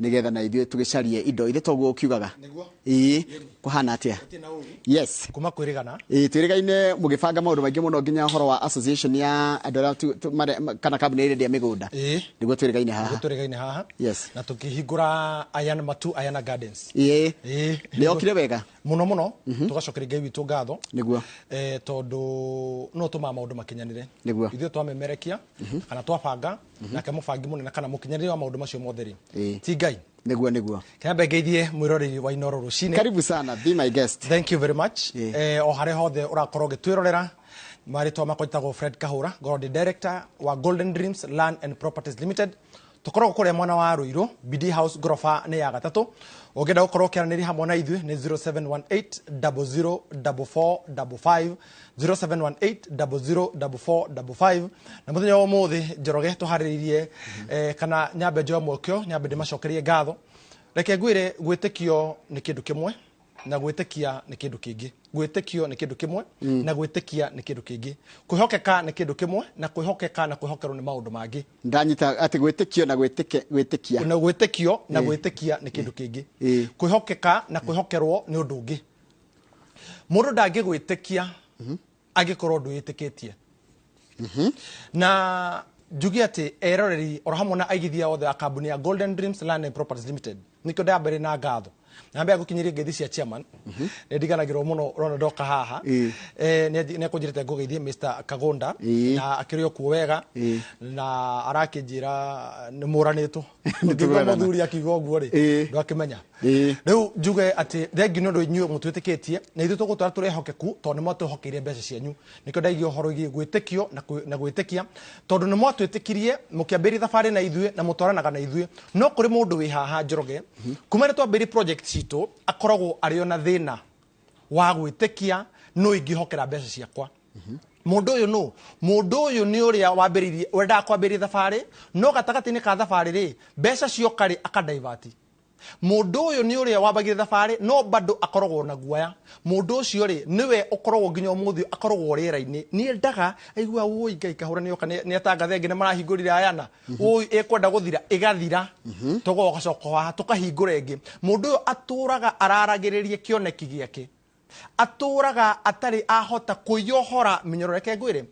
nĩgetha na ithuĩ tũgĩcarie indo ithe toguo ũkiugaga Nĩguo. ĩĩ kũhana atĩa Gũtirĩ na ũũru. yes kuma kwĩrĩgana Ĩĩ, twĩrĩgaine mũgĩbanga maũndũ maingĩ mũno nginya ũhoro wa association ya andũ arĩa tu- tu- mare- ma- kana kambuni ĩrĩa ĩrĩa mĩgũnda Ĩĩ. nĩguo twĩrĩgaine haha gũtũrĩgaine haha Yes. na tũkĩhingũra ayana matu ayana gardens Ĩĩ. Ĩĩ. nĩyokire wega mũno mũno tũgacokeria ngai witũ ngatho Nĩguo. Eh, tondũ no tũmaa maũndũ makinyanire Nĩguo. ithuĩ twamemerekia kana twabanga nake mũbangi mũnene kana mũkinyanĩria wa maũndũ macio mothe rĩ Ĩĩ. ti ngai nĩguo nĩguo kĩambe ngeithie mwĩroreri wa inoro rũcinĩ karibu sana be my guest thank you very much Ĩĩ. eh, o harĩa hothe ũrakorwo ũgĩtwĩrorera marĩtwa makwa njĩtagwo fred kahũra ngorwo ndĩ director wa golden dreams land and properties limited tũkoragwo kũrĩa mwena wa rũirũ bd house ngoroba nĩ ya gatatũ ũngĩenda gũkorwo ũkĩaranĩria hamwe na ithuĩ nĩ 0718 004455 0718004455 na muthenya wa muthi njoroge tuhariririe eh, kana nyambe njoe mwokio nyambe ndimacokerie ngatho reke ngwire gwitikio ni kindu kimwe na gwitikia ni kindu kingi gwitikio ni kindu kimwe na gwitikia ni kindu kingi kwihokeka ni kindu kimwe na kwihokeka na kwihokerwo ni maundu mangi ndanyita atä gwä tä kio na gwä tä kia na gwĩtĩkio na gwĩtĩkia nĩ kĩndũ kĩngĩ Ĩĩ. kwĩhokeka na kwĩhokerwo nĩ ũndũ ũngĩ Mũndũ ndangĩgwĩtĩkia angĩkorwo ndwĩtĩkĩtie. Na njuge atĩ eroreri oro hamwe na aigithia othe a kambuni ya Golden Dreams Land and Properties Limited nĩkĩo ndamba ĩrĩ na ngatho na mbere ya gũkinyĩria ngeithi cia chairman nĩ ndiganagĩrwo mũno rona ndoka haha Ĩĩ. eh, nĩ nĩ akũnjĩrĩte ngũgeithie Mr Kagunda Ĩĩ. na akĩrĩ o kuo wega na arakĩnjĩra nĩ mũranĩtwo ngĩgua mũthuri akiuga ũguo rĩ Ĩĩ. ndwakĩmenya Ĩĩ. rĩu njuge atĩ thengi nĩ ũndũ inyuĩ mũtwĩtĩkĩtie na ithuĩ tũgũtwara tũrĩ ehokeku tondũ nĩ mwatũhokeire mbeca cianyu nĩkĩo ndaigia ũhoro wĩgiĩ gwĩtĩkio na kwĩ- na gwĩtĩkia tondũ nĩ mwatwĩtĩkirie mũkĩambĩrĩria thabarĩ na ithuĩ na mũtwaranaga na ithuĩ no kũrĩ mũndũ wĩ haha njoroge kuma nĩ twambĩrĩrie project citũ akoragwo arĩ ona thĩna wa gwĩtĩkia nũ ingĩhokera mbeca ciakwa mũndũ ũyũ nũ mũndũ ũyũ nĩ ũrĩa wambĩrĩirie wendaga kwambĩrĩria thabarĩ no gatagatĩ-inĩ ka thabarĩ rĩ mbeca cioka rĩ akadaivati mũndũ ũyũ nĩ ũrĩa wambagire thabarĩ no bado akoragwo na guoya mũndũ ũcio rĩ nĩwe ũkoragwo nginya ũmũthĩ ũyũ akoragwo rĩera-inĩ nĩ endaga aigua wũi ngai kahũra nĩ oka nĩ nĩ atangathe nginya marahingũrire ayana ũyũ ĩkwenda gũthira ĩgathira tũgogacoka haha tũkahingũra ĩngĩ mũndũ ũyũ atũraga araragĩrĩria kĩoneki gĩake atũraga atarĩ ahota kũiyohora mĩnyororo reke ngwĩre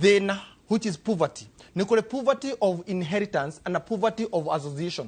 thĩna which is poverty nĩ kũrĩ poverty of inheritance and a poverty of association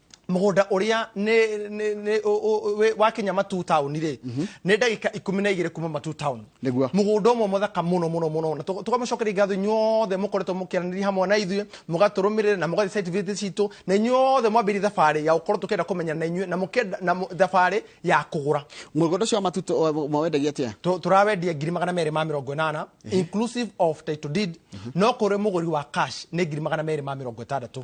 mũgũnda ũrĩa nĩ- nĩ- nĩ- ũ- ũ- wĩ- wakinya matu town rĩ nĩ ndagĩka ikũmi na igĩrĩ kuma matu town Nĩguo. mũgũnda ũmwe mũthaka mũno mũno mũno na tũ- tũkamũcokeria ngatho inyuothe mũkoretwo mũkĩaranĩria hamwe na ithuĩ mũgatũrũmĩrĩra na mũgathiĩ site visit citũ na inyuothe mwambĩrie thabarĩ ya gũkorwo tũkĩenda kũmenya na inyuĩ na mũkenda na mũ- thabarĩ ya kũgũra mũgũnda ũcio wa matuto wa- mwawendagia atĩa Tũ- tũrawendia ngiri magana merĩ ma mĩrongo ĩnana inclusive of title deed no kũrĩ mũgũri wa cash nĩ ngiri magana merĩ ma mĩrongo ĩtandatũ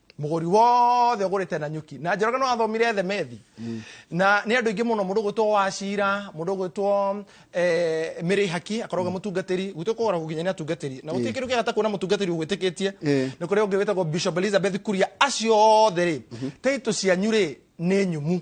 mũgũri wothe ũgũrĩte na nyuki na njoroge no athomire themethi na nĩ andũ aingĩ mũno mũndũ gwĩtwo wacira mũndũ gwĩtwo eh, mĩrĩ haki akoragwo mm. mũtungatĩri gwitũ kũgoragwo nginya nĩ atungatĩri na gũtirĩ kĩndũ kĩega ta kuona mũtungatĩri ũgwĩtĩkĩtie Eh. nĩ kũrĩ ũngĩ wĩtagwo bishop elizabeth kuria acio othe rĩ taitũ cianyu rĩ nĩ nyumu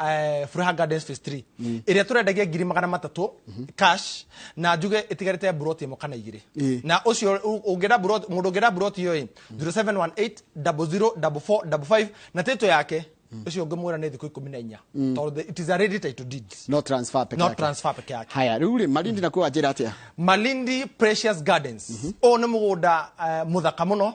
eh, Furaha Gardens Phase 3 mm. ĩrĩa tũrendagia ngiri magana matatũ mhm. cash na njuge ĩtigarĩte buroti ĩmwe kana igĩrĩ na ũcio ũngĩenda buroti mũndũ ũngĩenda buroti ĩyo ĩ 0718004455 na tĩtũ yake Mm. ucio ungi mwira ni thiku ikumi na inya mm. tondu it is a ready title deed no transfer peke yake no transfer peke yake haya riu ri malindi na kwa njira atia malindi precious gardens mm-hmm. o ni mugunda eh, muthaka muno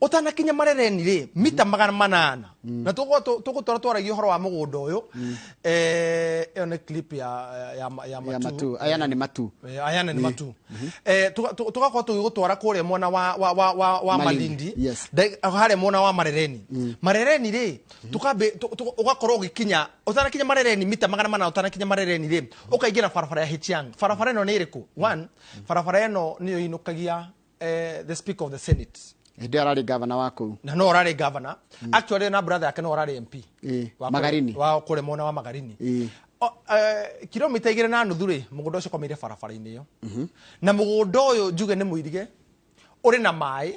ũtanakinya marereni rĩ mita magana manana na tũgũtwara twaragia ũhoro wa mũgũnda ũyũ Eh, ĩyo nĩ clip ya ya- ya ya matu matu ayana nĩ matu Eh, ayana nĩ matu Eh, tũga- tũ- tũgakorwo tũgĩgũtwara kũrĩa mwena wa wa wa wa wa Malindi. malindi Yes. Ndai- harĩa mwena wa marereni marereni rĩ tũkambe tũ- tũ- ũgakorwo ũgĩkinya ũtanakinya marereni mita magana mana ũtanakinya marereni rĩ ũkaingĩra barabara ya hichiang barabara ĩno nĩ ĩrĩkũ one barabara ĩno nĩyo ĩinũkagia eh, the speaker of the senate hĩndĩ ĩyo ararĩ gavana wa kũu na no ararĩ governor actually na brother yake no ararĩ mp Ĩĩ, wa kũrĩ- Magarini. wa kũrĩ mwena wa magarini Ĩĩ. O- eh, kilomita igĩrĩ na nuthu rĩ mũgũnda ũcio ũkomeire barabara-inĩ ĩyo na mũgũnda ũyũ njuge nĩ mũirige ũrĩ na maĩ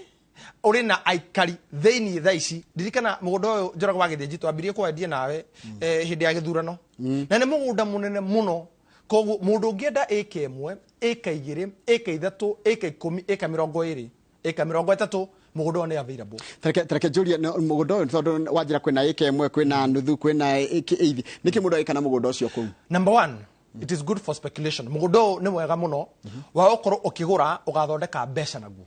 ũrĩ na aikari thĩinĩ tha ici ndirikana mũgũnda ũyũ njoragwo wa gĩthĩnji twambirie kwendia nawe eh, hĩndĩ ya gĩthurano na nĩ mũgũnda mũnene mũno Koguo mũndũ ũngĩenda ĩka ĩmwe, ĩka igĩrĩ, ĩka ithatũ, ĩka ikũmi, ĩka mĩrongo ĩrĩ, ĩka mĩrongo ĩtatũ, mũgũnda ũyũ nĩ available. Tareke tareke njũrie no- mũgũnda ũyũ tondũ wanjĩra kwĩna ĩka ĩmwe kwĩna nuthu kwĩna ĩka eithi nĩkĩ mũndũ agĩka na mũgũnda ũcio kũu Number one, it is good for speculation. Mũgũnda ũyũ nĩ mwega mũno wa gũkorwo ũkĩgũra ũgathondeka mbeca naguo.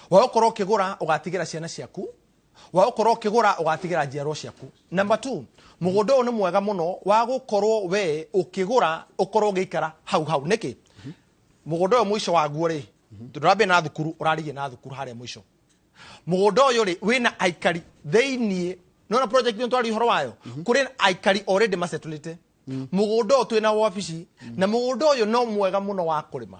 Wa gũkorwo ũkĩgũra ũgatigĩra ciana ciaku Wa gũkorwo ũkĩgũra ũgatigĩra njiarwo ciaku. Number two, mũgũnda ũyũ nĩ mwega mũno wa gũkorwo we ũkĩgũra ũkorwo ũgĩikara hau hau. Nĩkĩ? Mũgũnda ũyũ mũico waguo rĩ, ndũrambia na thukuru, ũrarigia na thukuru harĩa mũico. Mũgũnda ũyũ rĩ, wĩna aikari thĩiniĩ. Nĩwona project ĩno twarĩ ũhoro wayo? Kũrĩ aikari already masetũlĩte. Mũgũnda ũyũ twĩna wabici, na mũgũnda ũyũ no mwega mũno wa kũrĩma.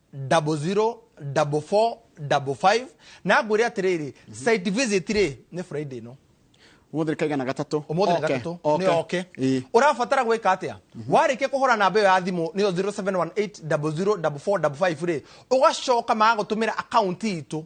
double zero double four double five na ngwĩre atĩrĩrĩ site visit rĩ nĩ friday no umuthi kaiga na gatatu umuthi na gatatu ni oke urabatara gwika atia warikia kuhura namba iyo ya thimu niyo 0718004455 ri ugacoka magagutumira account itu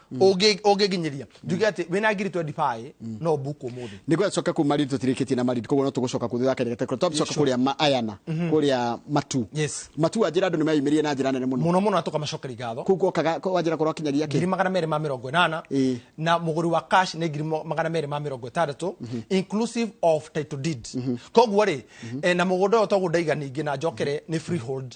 Ũngĩ- ũngĩnginyĩria njuge atĩ wĩna ngiri 25 no mbuku ũmũthĩ nä gå acoka kuma rä tå tirä kä tie na marindi koguo no tå gå coka kå thutha kenya tå coka kå rä a maayana kå rä a matu Yes. matu wa njä ra andå nä meyumä rire na njä ra nene må no mũno mũno na tũkamacokeri ngatho kå u gokaga wanjä ra korwo akinyaria ngiri kä magana merĩ ma mĩrongo ĩnana Ĩĩ. na mũgũri wa cash nĩ ngiri mo- magana merĩ ma mĩrongo ĩtandatũ inclusive of title deed koguo rĩ eh, na mũgũnda ũyũ toguo ndaiga ningĩ na njokere nĩ freehold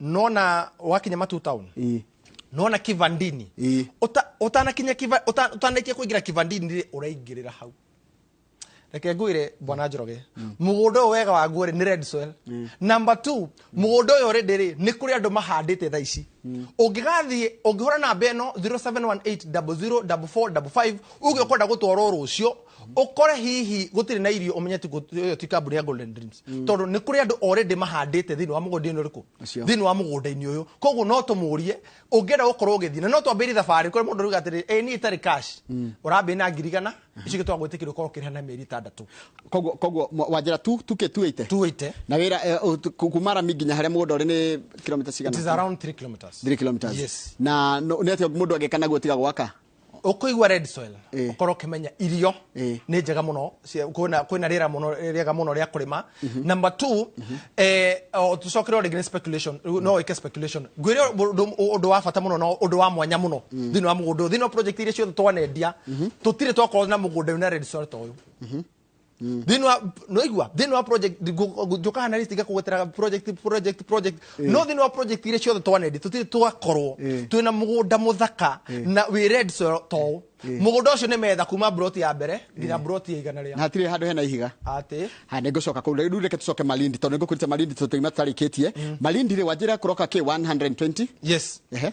nona wakinya matu town ĩ nona kivandini ĩ Uta- utanakinya kiva- uta- utanakia kuingira kivandini rĩ uraingirira hau reke ngwire bwana njoroge mugunda uyu wega waguo rĩ nĩ red soil number two mugunda uyu rĩ ndĩrĩ nĩ kũrĩ andũ mahandĩte thaa ici ũngĩgathiĩ ũngĩhũra namba ĩno 0718004455 uge ũkwenda gũtwarwo rũcio ukore hihi gutiri na irio umenye ti yo ti kambuni ya golden dreams mm. tondu ni kuri andu already mahandite thiini wa mugunda ino riku thiini wa mugunda ini uyu koguo no tumurie ungienda gukorwo ugithii na no twambiri thabari kuri mundu ruga atiri e ni itari cash mm. urambi na ngirigana mm-hmm. icio gitwa gwitikira ukorwo kirihana mieri itandatu koguo koguo wanjira tu tuke tu ite tu ite na wira eh, kumara mingi nya haria mugunda uri ni kilomita cigana it is around 3 kilometers 3 kilometers yes na ni atia mundu agikana gutiga gwaka ũkũigua red soil Eh. ũkorwo ũkĩmenya irio Eh. nĩ njega mũno cia- kwĩna kwĩna rĩera mũno rĩega mũno rĩa kũrĩma number two eh, o, tũcokere o rĩngĩ nĩ speculation Rĩu no wĩke speculation ngwĩre ũndũ- ũndũ wa bata mũno na ũndũ wa mwanya mũno thĩinĩ wa mũgũnda ũyũ. thĩinĩ wa project iria ciothe twanendia tũtirĩ twakorwo na mũgũnda wĩna red soil ta ũyũ thĩinĩ wa noigua thĩinĩ wa project ngũ- njũkaga na list ngakũgwetera project project project no thĩinĩ wa project iria ciothe twanendi tũtirĩ twakorwo Ĩĩ. twĩna mũgũnda mũthaka na wĩ red soil toũ mũgũnda ũcio nĩ metha kuma broti ya mbere nginya broti ya igana na rĩa hatirĩ handå hena ihiga atĩ ha nä ngå coka kå rä u reke tå coke malindi tondå nä ngå kå rite malindi tå tå ima tå tarä kä tie malindi rä wanjä ra kå roka kä 120 yes Ehe.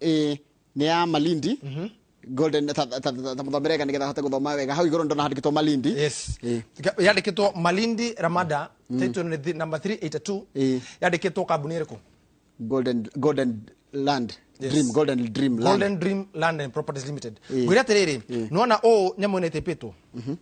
ĩĩ nĩ ya malindi golden ta- ta- ta- ta- tamũthomere ega nĩgetha ahote gũthoma wega hau igũrũ ndona handĩkĩtwo malindi yes Ĩĩ. yandĩkĩtwo malindi ramada title nĩ thi- number 382 Ĩĩ. yandĩkĩtwo kambuni ĩrĩkũ golden golden land Yes. dream golden dream land golden dream land and properties limited Ĩĩ. ngwĩra atĩrĩrĩ nona ũũ nyamũ ĩno ĩtĩpĩtwo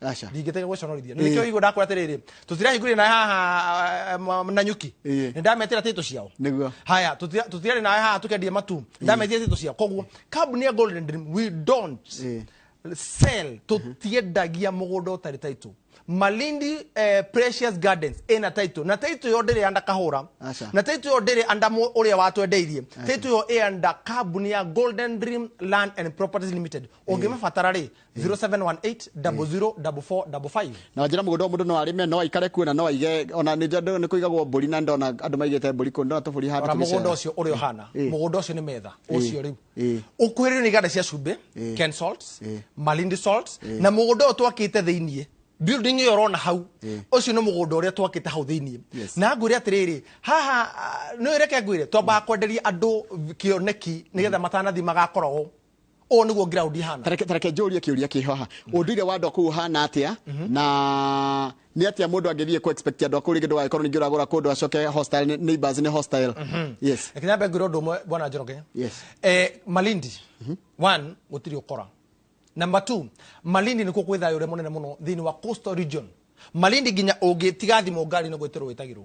aca ndingĩtega gũconorithia nĩ kĩo igũ ndakwĩra atĩrĩrĩ tũtirahingũrire na haha uh, na nyuki Ĩĩ. nĩ ndametĩra tĩtũ ciao nĩguo haya tũtira- tũtirarĩ nawe haha tũkendie matu ndametia tĩtũ ciao koguo kambuni ya golden dream we don't Ĩĩ. sell tũtiendagia mũgũnda ũtarĩ taitũ malindi eh, precious gardens ĩna taitũ na taitũ yo ndĩrĩ anda kahũra Aca. na taitũ yo ndĩrĩ anda mũ- ũrĩa watwendeirie taitũ yo ĩanda kambuni ya golden dream land and properties limited ũngĩmabatara rĩ 0718 00 4455 na wanjira mugunda wa mundu no arime no aikare kuo na no aige ona ni njandu ni kuigagwo mburi na ndona andu maigite mburi kuo ndona tuburi handu ona mugunda ucio uri ohana Eh. mugunda ucio ni metha Eh. ucio riu Eh. ukuhirire ni iganda cia cumbi Eh. ken salts Eh. malindi salts na mugunda uyu twakite thiini building iyo urona hau Eh. ucio ni mugunda uria twakite hau thiini Yes. na ngwire atiriri haha ah, no ireke ngwire twambaga kwenderia andu kioneki nigetha matanathi magakoragwo ũũ nĩguo ground ihana tareke tareke njũrie kĩũria kĩho haha ũndũire wa andũ akũu ũhana atĩa na nĩ atĩa mũndũ angĩthiĩ kũ expect andũ akũu rĩngĩ ndũgagĩkorwo ningĩ ũragũra kũndũ acoke hostile nĩ- neighbors nĩ hostile yes reke nyambe ngwĩra ũndũ ũmwe bwana njoroge Yes. eh, malindi one gũtirĩ ũkora number two malindi nĩkuo kwĩ thayũ ũrĩa mũnene mũno thĩinĩ wa coastal region malindi nginya ũngĩtiga thimũ ngari-inĩ gwĩtĩrwo wĩtagĩrwo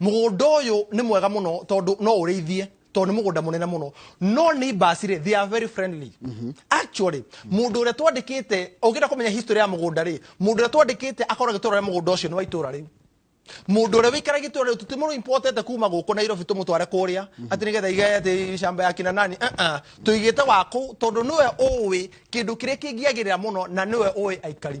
mũgũnda ũyũ nĩ mwega mũno tondũ no ũrĩithie tondũ nĩ mũgũnda mũnene mũno no nĩ basi rĩ they are very friendly actually mũndũ ũrĩa twandĩkĩte ũngĩenda kũmenya history ya mũgũnda rĩ mũndũ ũrĩa twandĩkĩte akoragwo agĩtũra rĩa mũgũnda ũcio nĩ wa itũra rĩu mũndũ ũrĩa wĩikaragia itũra rĩu tũtimũrũ impotete kuma gũkũ nairobi tũmũtware kũrĩa atĩ nĩgetha igae atĩ shamba ya kina nani uh-uh. tũigĩte wakũ tondũ nĩwe ũĩ kĩndũ kĩrĩa kĩngĩagĩrĩra mũno na nĩwe ũĩ aikari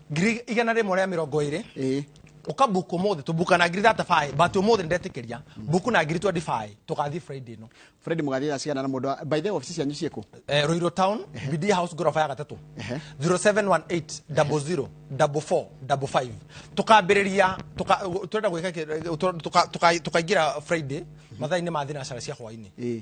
ngiri igana rĩmwe rĩa mĩrongo ĩrĩ ĩĩ uka book umuthi tu book na ngiri 35 but umuthi ndetikiria book na ngiri 25 tukathi friday no fred mũgathira cigana na mũndũ wa- by the way ofisi cianyu ciĩkũ eh, roiro town bd house gorofa ya gatatu Ehe. 0718 00 44 55 tukambiriria tuka turenda gwika ki- tu- tuka- tuka- tukaingira friday mathaa-inĩ ma thinacara cia hwaini ĩĩ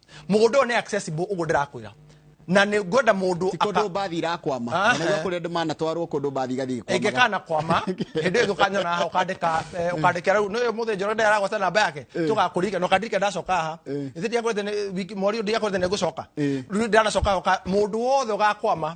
mũgũnda ũyũ nĩ accessible ũguo ndĩrakwĩra na nĩ ngwenda mũndũ ti kũndũ mbathi irakwama Ah, na nĩguo eh. kũrĩ andũ manatwarwo kũndũ mbathi igathiĩ ĩngĩka gĩkwamaga na kwama hĩndĩ ĩyo ũkanyona haha ũkandĩka eh, ũkandĩkĩra rĩu nĩyo mũthĩ njoro ndä aragwata namba yake tũgakũririka na ũkandirika ndacoka haha ĩthä ndiakwete mweri ũyũ ndiakwete nĩ ngũcoka Eh. rĩu ndanacoka haha, ũka- mũndũ wothe ũgakwama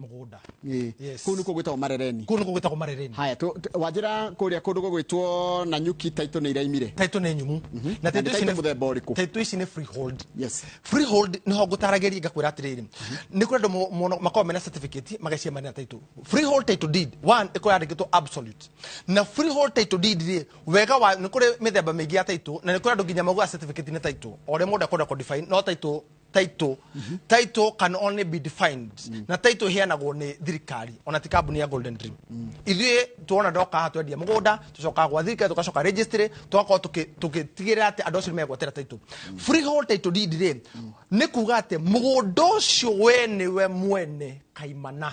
mũgũnda Ĩĩ. Yes. kũu nĩkuo gwĩtagwo marereni kũu nĩkuo gwĩtagwo marereni haya tũ- tũ- wanjĩra kũrĩa kũndũ gũgwĩtwo na nyuki taitũ nĩ iraimire taitũ nĩ nyumu Na na taitũ nĩ ici taitũ nĩ- mũthemba ũrĩkũ? taitũ ici nĩ freehold Yes. freehold nĩho ngũtaragĩria ngakwĩra atĩrĩrĩ nĩ kũrĩ andũ mo- mono- makoragwo mena certificate magacemania na taitũ freehold title deed one ĩkorwo yandĩkĩtwo absolute na freehold title deed rĩ wega wa nĩ kũrĩ mĩthemba mĩingĩ ya taitũ na nĩ kũrĩ andũ nginya maugaga certificate nĩ taitũ o ũrĩa mũndũ akwenda kũdefine no taitũ title title can only be defined na title heanagwo nĩ thirikari ona ti kambuni ya golden dream ithuĩ tuona ndoka haha twendia mũgũnda tũcokaga gwa thirikari tũgacoka registry tũgakorwo tũkĩ- tũgĩtigĩrĩra atĩ andũ acio nĩ megwatĩra title freehold title deed rĩ nĩ kuga atĩ mũgũnda ũcio we nĩwe mwene kaimana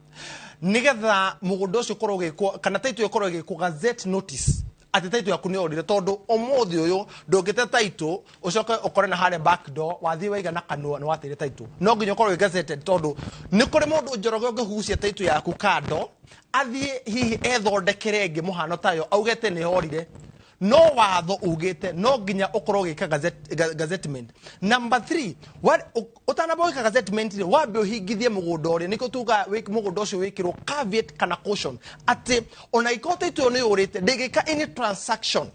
nigetha mugunda ucio korwo gikwo kana title ikorwo gikwo gazette notice ati title yaku ni orire tondu umuthi uyu ndungite title ucoke ukore na hare back door wathie waiga na kanua ni watire title no nginya ukorwo gazetted tondu ni kuri mundu njoroge ungihucia title yaku kando athie hihi ethondekere ngi muhano tayo auge te ni orire no watho ugite no nginya ukorwo ugika gazet- ga- gazettement number 3 utanamba wika gazettement ri wambe uhingithie mugunda uria niko tuga mugunda ucio wikirwo caveat kana caution ati ona ikorwo titu ni urite ndingika any transaction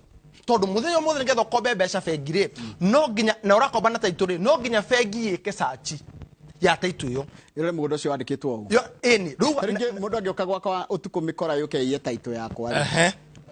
tondu muthenya mothe nigetha ukombe mbeca bengi ri no nginya na urakomba na taitu ri no nginya bengi yike sachi ya taitu yo ire mugondo ucio wandikitwo uguo yo ini riu ringi mundu angioka gwakwa utuku mikora yuke iye taito yakwa rĩ, Ehe.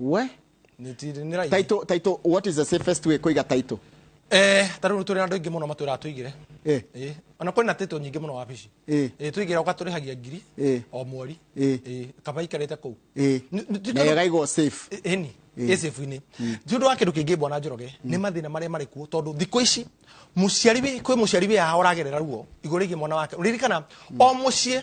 we nitirinira taito taito what is the safest way kuiga taito eh tarä u tå rä na andå aingä må no matwä raga tå igä eh re ona kwä na tä nyingä må no wabici Eh. tå igä ra å gatå rä hagia ngiri Eh. o mweri Eh. Eh, kaba ikarä te kå u eh na yagaigwo safe eni Eh. ĩcĩbu-inĩ ti ũndũ wa kĩndũ kĩngĩ mbwana njoroge nĩ mathĩna marĩa marĩ kuo tondũ thikũ ici mũciari wĩ- kwĩ mũciari wĩyaha ũragerera ruo igũrũ rĩgiĩ mwana wake ũririkana o mũciĩ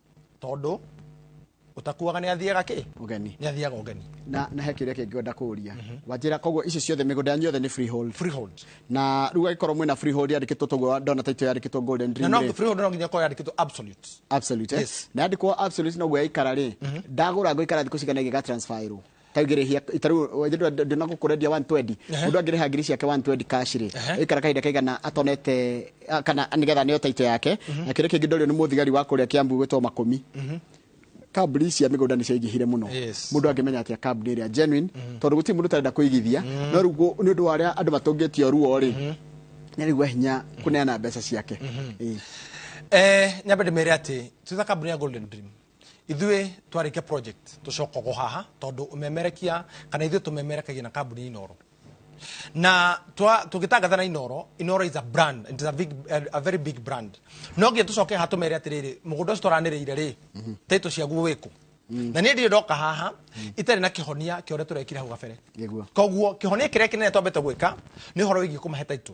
tondå å takuaga nä athiaga kä Ũgeni. nä athiaga å geni Na na he kĩũria kĩngĩ ngwenda kũũria. Wanjĩra koguo ici ciothe mĩgũnda yanyu yothe nĩ freehold. Freehold. Na rĩu agĩkorwo mwĩna freehold yandĩkĩtwo toguo ndona taitũ yandĩkĩtwo Golden na Dream no rĩ. freehold no nginya korwo yandä kä two absolute Absolute. eh? Yes. Na yandĩkwo absolute noguo yaikara rĩ. Ndagũra ngũikara thikũ cigana ĩgĩga transferĩrwo. kaigirihia itariu ndina gukurendia 120 mundu angiriha ngiri ciake 120 cash ri ikara kahinda kaigana atonete a- kana nigetha nio taito yake na kiri kingi ndorio ni muthigari wa kuria kiambu gwitwo makumi kambuni ici cia mĩgũnda nĩ ciaingĩhire mũno Yes. mũndũ angĩmenya atĩa kambuni ĩrĩa genuine tondũ gũtirĩ mũndũ ũtarenda kũigithia no rĩu gũ- nĩ ũndũ wa arĩa andũ matũngĩtio ruo rĩ nĩ rĩgua hinya kũneana mbeca ciake Ĩĩ. eh, nyambe ndĩmere atĩ twĩta kambuni ya golden dream ithuĩ twarĩkia project tũcokagwo haha tondũ ũmemerekia kana ithuĩ tũmemerekagia na kambuni ya inoro na twa- tũgĩtangatha na inoro inoro is a brand it is a, big, a, a very big brand no nginya tũcoke haha tũmere atĩrĩrĩ mũgũnda ũcio twaranĩrĩire rĩ taitũ ciaguo wĩkũ na niä ndirä ndoka haha itarä na kä honia kä å rä a tå rekire hau gabere Nĩguo. koguo kä honia kä rä a kä nene twambä te gwä ka nä å horo wä giä kå mahe taitå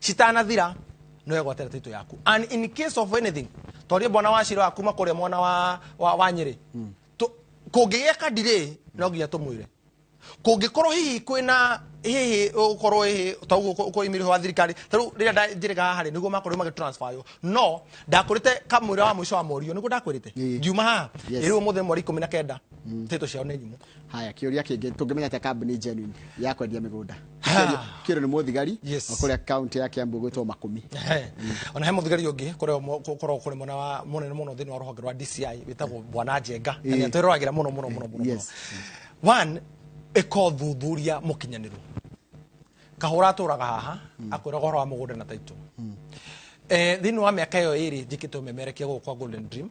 citanathira no egwatĩra taitũ yaku and in case of anything tondũ mbona wa cira waku makũrĩa mwana wa, wa, wa nyĩrĩ mm. kũngĩgĩa kadirĩ no nginya tũmwĩre kũngĩkorwo hihi kwĩna hihi ukorwo hihi ta uguo uko imiri wa thirikari ta riu rira nda njirega haha niguo makorwo magi transfer yo no ndakurite kamwira wa mwisho wa morio niguo ndakurite ngiuma haha riu muthe mweri 19 mm. tito ciao ni nyumu haya kä å ria kä ngä tå ngä menya atä kambuni genuine ya kwendia mä gå nda kä rä nä må thigari Yes. wa kå rä a kauntä ya kä ambå gwä two makumi Ehe. ona he muthigari ungi koragwo kuri mwena wa munene muno thiini wa ruhonge rwa dci witagwo bwana njenga na Ĩĩ. nĩatwĩroragira muno muno muno muno Yes. muno. one ĩka ũthuthuria mũkinyanĩru kahũra atũraga haha akwĩraga ũhoro wa mũgũnda na taitũ Eh, thĩinĩ wa mĩaka ĩyo ĩrĩ njĩkĩte ũmemerekia gũkũ kwa golden dream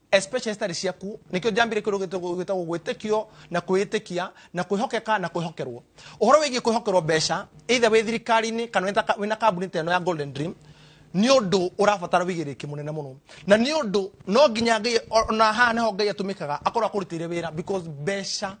especially citarĩ ciaku nĩkĩo njambire kĩndũ gĩtagwo gĩtagwo gwĩtĩkio na kwĩĩtĩkia na kwĩhokeka na kwĩhokerwo ũhoro wĩgiĩ kwĩhokerwo mbeca either wĩ thirikari-inĩ kana wĩ ta- wĩ na kambuni ta ĩno ya golden dream nĩ ũndũ ũrabatara wĩigĩrĩrĩki mũnene mũno na nĩ ũndũ no nginya ngai o- ona haha nĩho ngai atũmĩkaga akorwo akũrutĩire wĩra because mbeca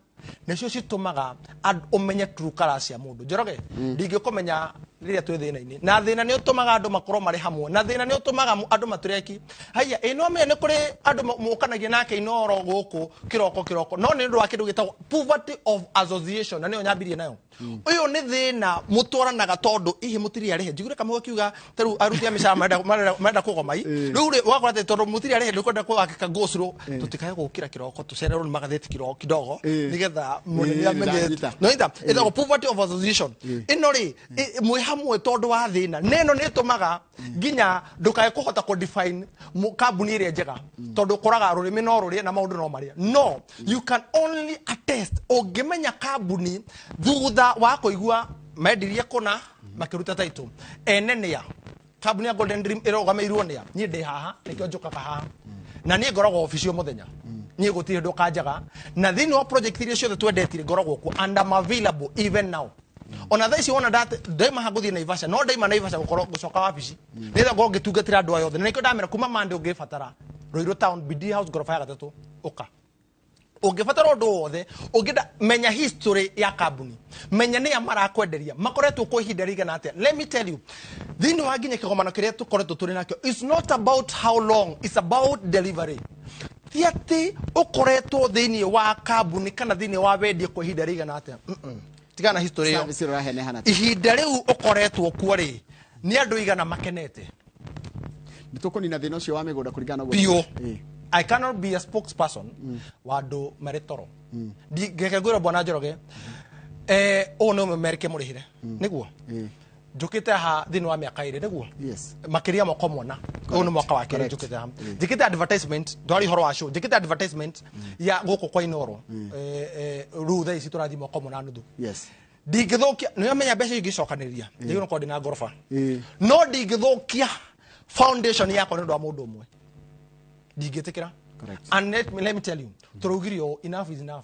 nĩcio citũmaga and- ũmenye true color cia mũndũ njoroge ndingĩkũmenya rĩrĩa twĩ thĩna-inĩ na thĩna nĩ ũtũmaga andũ makorwo marĩ hamwe na thĩna nĩ ũtũmaga mu- andũ matureki haiya ĩ no menya nĩ kũrĩ andũ ma- mũkanagia nake inoro gũkũ kĩroko kĩroko no nĩ ũndũ wa kĩndũ gĩtagwo poverty of association na nĩyo nyambirie nayo uyu ni thina mutwaranaga tondu ihi mutiri arihe njiguire kamwe akiuga taru aruti a micara marenda marenda- marenda kugomai riu ri wakora te tondu mutiri arihe ndikwenda kuwakika gusuru tutikae gukira kiroko tucererwo ni magatheti kiroko kidogo Eh. nigetha munene Eh, amenye ndanyita. noita ithagwo poverty of association ino ri mwi hamwe tondu wa thina neno ni tumaga nginya ndukae kuhota ku define mu- kambuni ĩrĩa njega tondũ ũkoraga rũrĩmĩ no rũrĩe na maũndũ no marĩa no you can only attest ũngĩmenya kambuni thutha wa kũigua mendirie kũna makĩruta taitũ ene nĩa kambuni ya golden dream ĩrũgamĩirwo nĩa niĩ ndĩ haha nĩkĩo njũkaga haha na niĩ ngoragwo obici o mũthenya niĩ gũtirĩ ndũ kanjaga na thĩinĩ wa project iria ciothe twendetire ngoragwo kuo and I'm available even now ona thaa ici wona ndat- ndaima ha ngũthiĩ naivasha no ndaima naivasha gũkorwo ngũcoka wabici nĩgetha ngorwo ngĩtungatĩra andũ aya othe na nĩkĩo ndamera kuma mande ũngĩbatara rũirũ town bd house ngoroba ya gatatũ ũka ũngĩbatara ũndũ o wothe ũngĩenda menya history ya kambuni menya nĩa marakwenderia makoretwo kwa ihinda rĩigana atĩa let me tell you thĩinĩ wa nginya kĩgomano kĩrĩa tũkoretwo tũrĩ nakĩo its not about how long its about delivery ti atĩ ũkoretwo thĩinĩ wa kambuni kana thĩinĩ wa wendia kwa ihinda rĩigana atĩa Mm-mm. tigana na history ĩyo Service ũrahenehana tu. ihinda rĩu ũkoretwo kuo rĩ nĩ andũ igana makenete Nĩ tũkũnina thĩna ũcio wa mĩgũnda kũringana na ũguo- biũ Ĩĩ. i cannot be a spokesperson wa andũ marĩ toro Ndi- ngeke ngwĩra bwana njoroge eh, ũũ nĩ ũmemerike mũrĩhĩre nĩguo Ĩĩ. njukite aha thini wa miaka iri niguo yes makiria moko mona uyu ni mwaka wa kiri Correct. njukite aha njikite advertisement ndwari horo wa show njikite advertisement ya guku kwa inoro eh, eh, riu thaa ici turathi moko mona nuthu yes ndingithukia niamenya mbeca ingicokaniria njagirwo korwo ndina ngoroba Eh. no ndingithukia foundation yakwa nä å ndå wa må ndå å mwe ndingä tä kä ra Correct. let me tell you tå raugire å enough is enough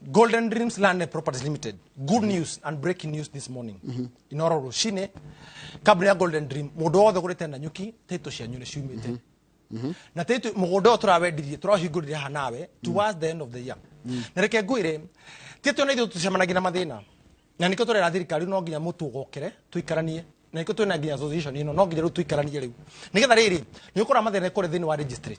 Golden Dreams Land Properties Limited. Good news and breaking news this morning. Inoro rucine kambuni ya Golden Dream mundu wothe gurite na nyuki title cianyu ni ciumite. Na title mugunda uyu turawendirie turahingurire ha nawe towards the end of the year. Na reke ngwire title na ithu tucemanagia na mathina. Na niko turera thirikari no nginya mutu gokere tuikaranie na niko twina nginya association ino no nginya riu tuikaranie riu. Nigetha riri ni ukora mathina kuri thini wa registry.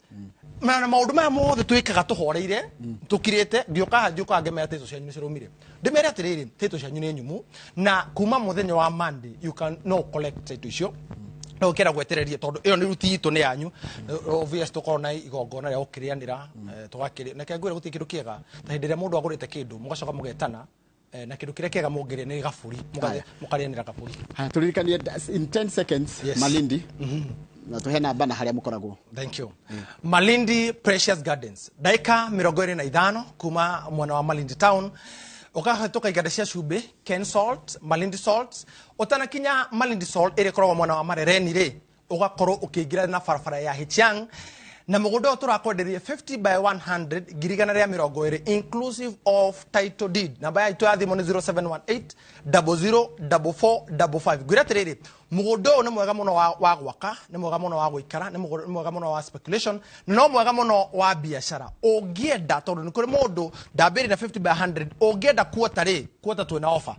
na na maundu maya mothe twikaga tuhoreire tukirite ngioka haha ngioka ngemera title cianyu ni cirumire ndimere atiriri title cianyu ni nyumu na kuma muthenya wa monday you can no collect title icio no ukira gwetereria tondu iyo ni ruti itu ni yanyu obvious tukorwo na igongona ria gukirianira tugakiria na kengwira guti kindu kiega ta hindi ria mundu agurite kindu mugacoka mugetana Eh, na kindu kiria kiega mungiria ni gaburi Haya. mukarianira gaburi Haya, turirikanie das- in 10 seconds Yes. malindi na tuhe namba na haria mukoragwo thank you malindi precious gardens ndaika mirongo iri na ithano kuma mwena wa malindi town ukahetoka iganda cia cumbĩ ken salt malindi salt utanakinya malindi salt ĩrĩa ĩkoragwo mwena wa marereni rĩ ũgakorwo ũkĩingĩra na barabara ya Hichiang na mũgũnda ũyũ tũrakwenderia 50 by 100 ngiri igana rĩa mĩrongo ĩrĩ inclusive of title deed namba yaitũ ya thimũ nĩ 0718004455 ngwĩra atĩrĩrĩ mũgũnda ũyũ nĩ mwega mũno wa, wa gwaka nĩ mwega mũno wa gũikara nĩ mũgũ- nĩ mwega mũno wa speculation na no mwega mũno wa biacara ũngĩenda tondũ nĩ kũrĩ mũndũ ndambĩrĩ na 50 by 100 ũngĩenda kuota rĩ kuota twĩna offer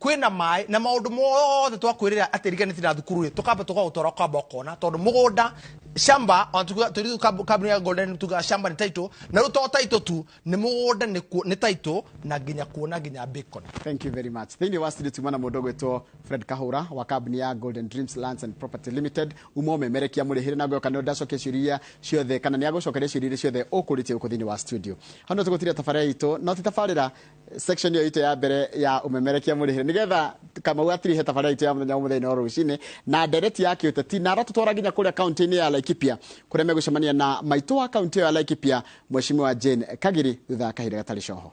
kwĩ na maĩ na maũndũ mothe twakwĩrĩra atĩ riganĩti na thukuru rĩ tũkamba tũkaũtwara ũkamba ũkona tondũ mũgũnda shamba ona tuga- tũri- kab- kambuni ya golden tuga shamba nĩ taitũ na rĩu to taitũ tu nĩ mũgũnda nĩ kuo- nĩ taitũ na nginya kuona nginya bacon thank you very much thĩinĩ wa studio tuma na mũndũ ũgwĩtwo fred kahũra wa kambuni ya golden dreams lands and property limited uma ũmemerekia mũrĩhĩre na ngoyo kana ndacokia ciũria iria ciothe kana nĩ agũcokeria ciũria iria ciothe ũkũrĩtie gũkũ thĩinĩ wa studio hau no tũgũtiria tabarĩra itũ no ti tabarĩra section ĩyo itũ ya mbere ya ũmemerekia mũrĩhĩre nĩgetha kamau atirihe tabarĩra itũ ya mũthenya wa mũthenya wa rũcinĩ na ndereti ya kĩũteti na aratũtwara nginya kũrĩa kaunti-inĩ ya laikipia kũrĩa megũcemania na maitũ wa kaunti ĩyo ya laikipia mweshimiwa jane kagiri thutha wa kahinda gatarĩ coho